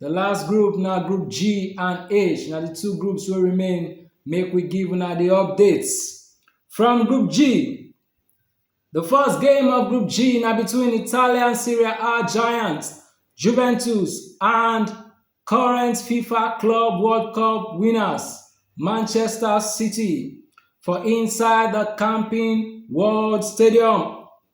The last group na group G and H na the two groups wey remain make we give una the updates. From group G, the first game of group G na between Italian Serie A giants Juventus and current FIFA Club World Cup winners Manchester City for inside the Camping World Stadium.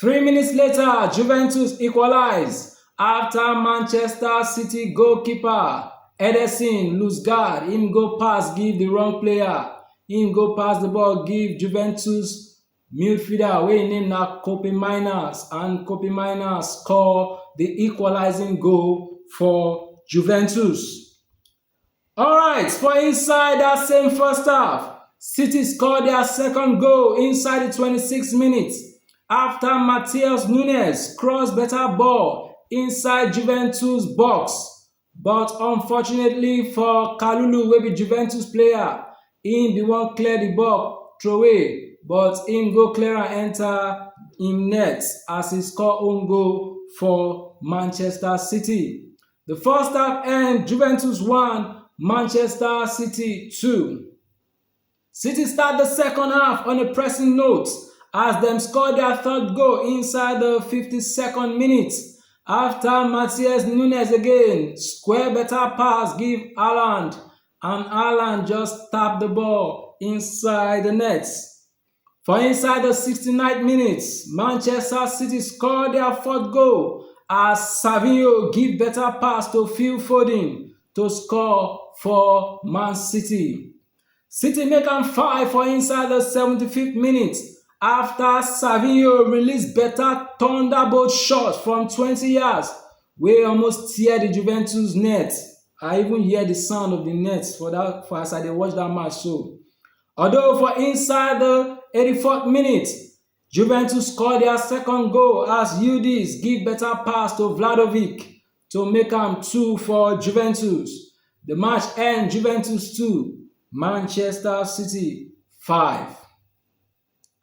Three minutes later, Juventus equalize after Manchester City goalkeeper Ederson lose guard, him go pass give the wrong player, him go pass the ball give Juventus midfielder wey im name na Kobe Miners and Kobe Miners score the equalizing goal for Juventus. Alright, for inside that same first half, City scored their second goal inside the 26 minutes after Matheus Nunes crossed better ball inside Juventus box. But unfortunately for Kalulu, wey be Juventus player, he be one clear the ball throw away, but him go clear and enter him net as he score own goal for Manchester City. The first half end Juventus 1, Manchester City 2. City start the second half on a pressing note as them score their third goal inside the 52nd minute after Matthias Nunes again square better pass give Haaland and Haaland just tap the ball inside the net. For inside di sixty nine minutes, Manchester City score dia fourth goal as Savio give beta pass to Phil Foden to score for Man City. City make am five for inside di seventy fifth minutes afta Savio release beta thunderbolt shot from twenty yards wey almost tear di Juventus net, I even hear di sound of di net for as I dey watch dat match so. Although for inside the 84th minute, Juventus score dia second goal as Yildiz give beta pass to Vlahovic to make am 2 for Juventus, the match end Juventus 2, Manchester City 5.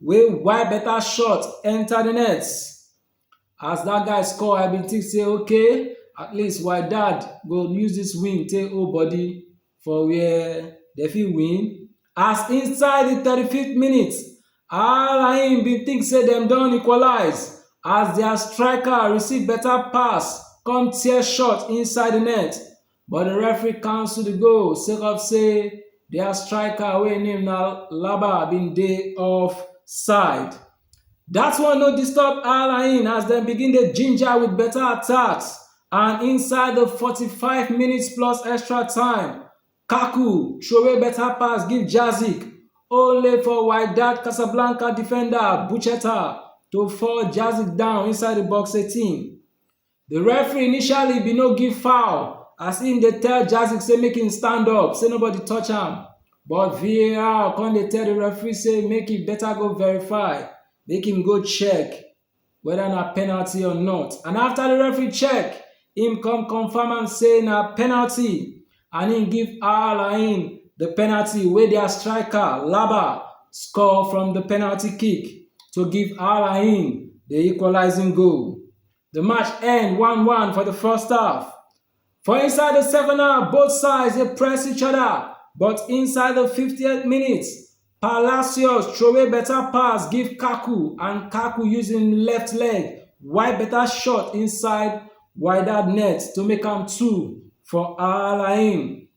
wey wipe better shot enter the net. As dat guy score, I bin think say okay, at least Wydad go use this win take hold body for where dem fit win. As inside the thirty fifth minute, Al-Ain bin think say dem don equalize as their striker receive better pass come tear shot inside the net. but di referee cancel di goal sake of say dia striker wey im name na Laba bin dey off side. Dat one no disturb Al Ain as dem begin dey ginger with better attacks and inside di 45 minutes plus extra time, Kaku throway better pass give Jazik only for Wydad Casablanca defender Bucheta to fall Jazik down inside di box 18. Di referee initially bin no give foul as im dey tell Jazic say make im stand up say nobody touch am, but VAR come dey tell di referee say make e better go verify, make im go check whether na penalty or not and after di referee check, im come confirm am say na penalty and im give Al Ain di penalty wey dia striker, Laba, score from di penalty kick to give Al Ain di equalising goal. The match end 1-1 for the first half. For inside the second half, both sides they press each other, but inside the 50th minute, Palacios throw a better pass give Kaku and Kaku using left leg, wide better shot inside wider net to make am two for Al Ain.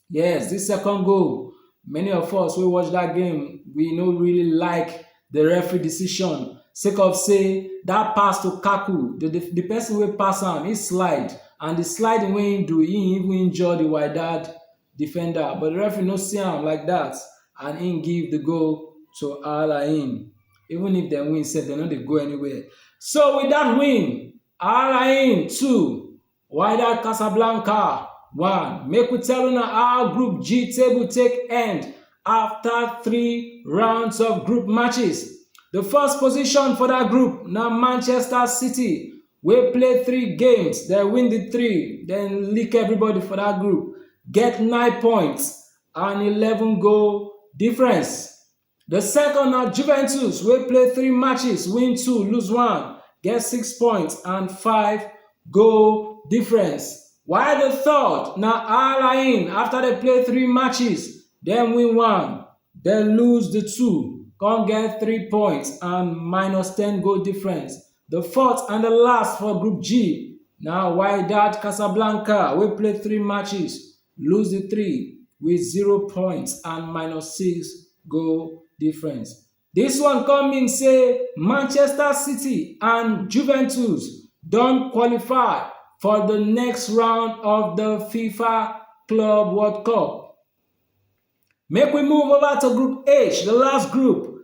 Yes, this second goal, many of us we watch that game, we no really like the referee decision. Sake of say that pass to Kaku, the, the, the person will pass him, he slide, and the slide wey he do, he even injure the Wydad defender, but the referee no see him like that, and he give the goal to Al Ain. Even if they win, said they no they go anywhere. So with that win, Al Ain two, Wydad Casablanca 1, make we tell una how Group G table take end after three rounds of group matches. The first position for that group na Manchester City wey play three games, dem win the three, dem lick everybody for that group, get nine points and 11 goal difference. Di second na Juventus wey play three matches, win two, lose one, get six points and five goal difference, while di third na Al Ain after dem play three matches, dem win one, dem lose di two, come get three points and minus ten goal difference. Di fourth and last for Group G na Wydad Casablanca wey play three matches, lose di three wit zero points and minus six goal difference. Dis one come mean say Manchester City and Juventus don qualify for di next round of di FIFA Club World Cup. Make we move over to Group H, di last group,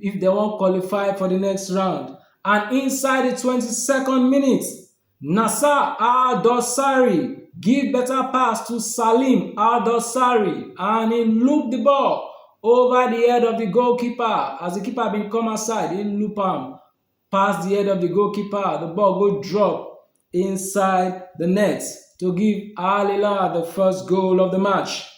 if dem wan qualify for di next round and inside di twenty second minute, Nasser Al Dossary give beta pass to Salim Al Dossary and e loop di ball ova di head of di goalkeeper as di keeper bin come outside e loop am. pass di head of di goalkeeper, di ball go drop inside di net to give Al Hilal di first goal of di match.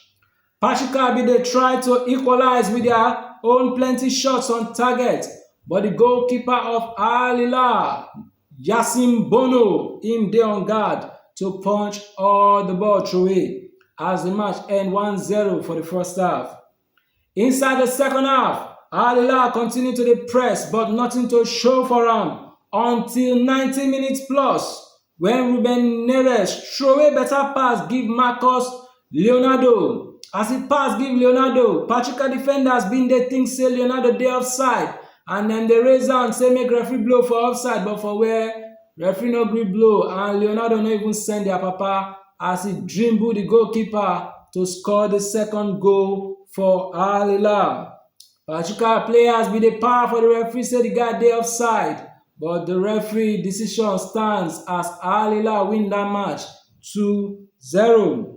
Pachika bin dey try to equalize wit dia own plenty shots on target but di goalkeeper of Al Hilal, Yassine Bono, im dey on guard to punch all di ball throway as di match end 1-0 for di first half. Inside di second half, Al Hilal continue to dey press but nothing to show for am until 90 minutes plus when Ruben Neves throway better pass give Marcus Leonardo. As e pass give Leonardo, Pachuca defenders bin dey think say Leonardo dey offside and dem dey raise hand say make referee blow for offside but for where? Referee no gree blow and Leonardo no even send their papa as he dribble the goalkeeper to score the second goal for Al Hilal. Pachuca players be the power for the referee say the guy dey offside but the referee decision stands as Al Hilal win that match 2-0.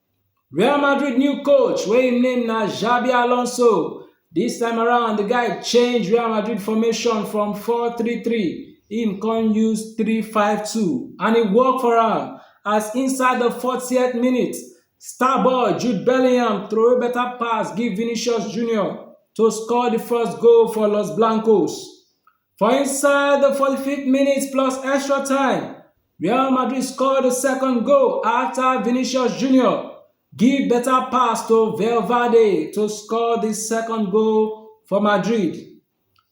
Real Madrid new coach wey im name na Xabi Alonso. Dis time around, di guy change Real Madrid formation from 4-3-3, im come use 3-5-2 and e work for am as inside di 40th minute, star boy Jude Bellingham throway better pass give Vinicius Junior to score di first goal for Los Blancos. For inside the 45th minute plus extra time, Real Madrid scored the second goal after Vinicius Jr. give better pass to Valverde to score the second goal for Madrid.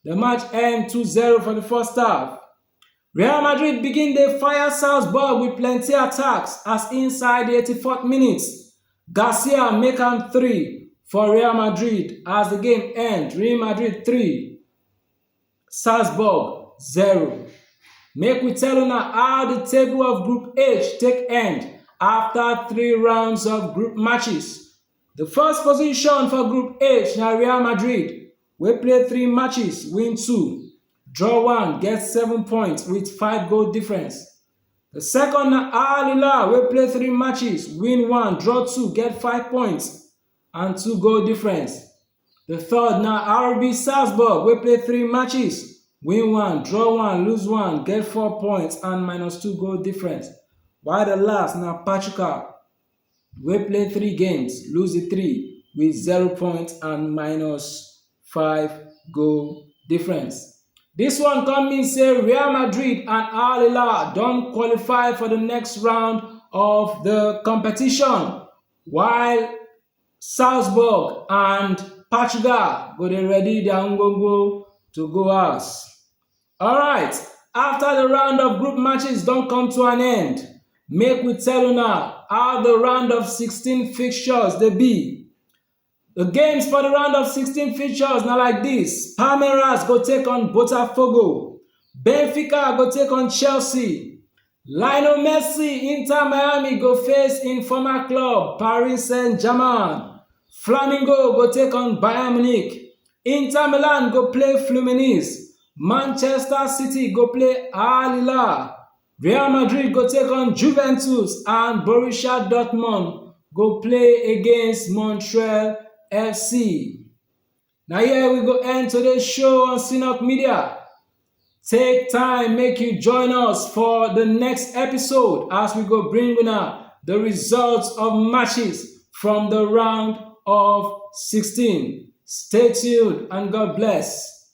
The match end 2-0 for the first half. Real Madrid begin the fire Salzburg with plenty attacks as inside the 84th minute, Garcia make am 3 for Real Madrid as the game end Real Madrid 3, Salzburg, 0 Make we tell una how the table of Group H take end after three rounds of group matches. The first position for Group H na Real Madrid wey play three matches, win two, draw one, get seven points with five goal difference. The second na Al Hilal wey play three matches, win one, draw two, get five points and two goal difference. Di third na RB Salzburg wey play three matches, win one, draw one, lose one, get four points and minus two goal difference, while di last na Pachuca wey play three games, lose di three with zero points and minus five goal difference. Dis one come mean say Real Madrid and Al Hilal don qualify for di next round of di competition, while Salzburg and Portugal go dey ready their ngwongwo to go house. Alright, after the round of group matches don come to an end, make we tell una how the round of 16 fixtures dey be. The games for the round of 16 fixtures na like this: Palmeiras go take on Botafogo, Benfica go take on Chelsea, Lionel Messi Inter Miami go face im former club Paris Saint-Germain, Flamingo go take on Bayern Munich, Inter Milan go play Fluminense, Manchester City go play Al Hilal, Real Madrid go take on Juventus and Borussia Dortmund go play against Montreal FC. Now here we go end today's show on Synod Media. Take time, make you join us for the next episode as we go bring now the results of matches from the round of 16. Stay tuned and God bless.